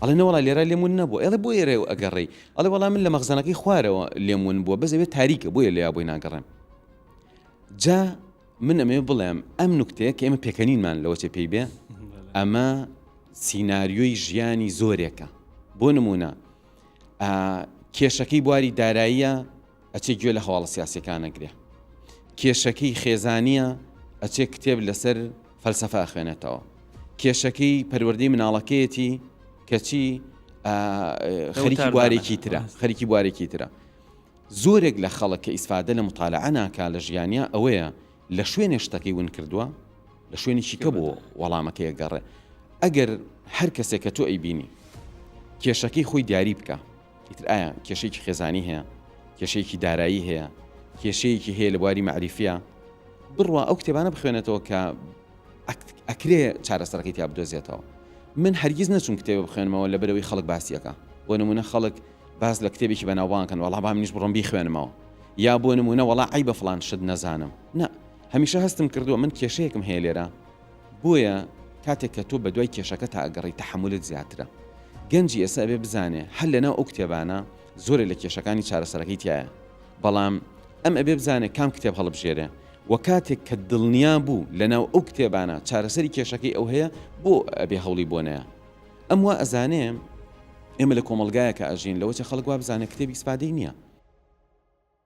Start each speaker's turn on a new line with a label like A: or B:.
A: ئەڵێ نەوەڵا لێرا لێم ون نەبووە ئێڵێ بۆیە رێو ئەگەڕێی ئەڵێ وەڵا من لە مەخزەنەکەی خوارەوە لێم ون بووە بەس ئەوێ تاریکە بۆیە لێیا بۆی ناگەڕێم جا من ئەمێ بڵێم ئەم نکتەیە کە ئێمە پێکەنینمان لەوە چێ پێی بێ ئەمە سینناریۆی ژیانی زۆرێکە بۆ نمونە کێشەکەی بواری داراییە ئەچێ گوێ لە هەواڵە سیاسیەکان ئەگرێ کێشەکەی خێزانیە ئەچێ کتێب لەسەر فەلسەفە ئەخوێنێتەوە کێشەکەی پەروەردەی مناڵەکەیەتی کەچی خەریکی بوارێکی ترە خەریکی بوارێکی ترە زۆرێک لە خەڵک کە ئیسفادە لە مطالعە ناکا لە ژیانیا ئەوەیە لە شوێنێ شتەکەی ون کردووە لە شوێنێکی کە بۆ وەڵامەکەی گەڕێ ئەگەر هەر کەسێک کە تۆ ئەی بینی کێشەکەی خۆی دیاری بکە ئیتر ئایا کێشەیەکی خێزانی هەیە کێشەیەکی دارایی هەیە کێشەیەکی هەیە لە بواری مەعریفە بڕوا ئەو کتێبانە بخوێنێتەوە کە ئەکرێ چارەسەرەکەی تیا بدۆزێتەوە من هەرگیز نەچوم کتێب بخوێنمەوە لە بەرەوەی خەڵک باسیەکە بۆ نمونە خەڵک باز لە کتێبێکی بەناوبانکەن وەڵا با منیش بڕۆم بیخوێنمەوە یا بۆ نمونە وەڵا ئەی بە فلان شت نەزانم نا هەمیشە هەستم کردووە من کێشەیەکم هەیە لێرە بۆیە کاتێک کە تۆ بەدوای کێشەکەتا ئەگەڕێی تەحەمولت زیاترە گەنجی ئێستا ئەبێ بزانێ هەر لەناو ئەو کتێبانە زۆرێ لە کێشەکانی چارەسەرەکەی تیایە بەڵام ئەم ئەبێ بزانێ کام کتێب هەڵبژێرێ وە کاتێک کە دڵنیا بوو لەناو ئەو کتێبانە چارەسەری کێشەکەی ئەو هەیە بۆ ئەبێ هەوڵی بۆ نەیە ئەم وا ئەزانێ ئێمە لە کۆمەلگایەکە ئەژین لەوەچە خەڵک وا بزانێ کتێبی سپادەی نییە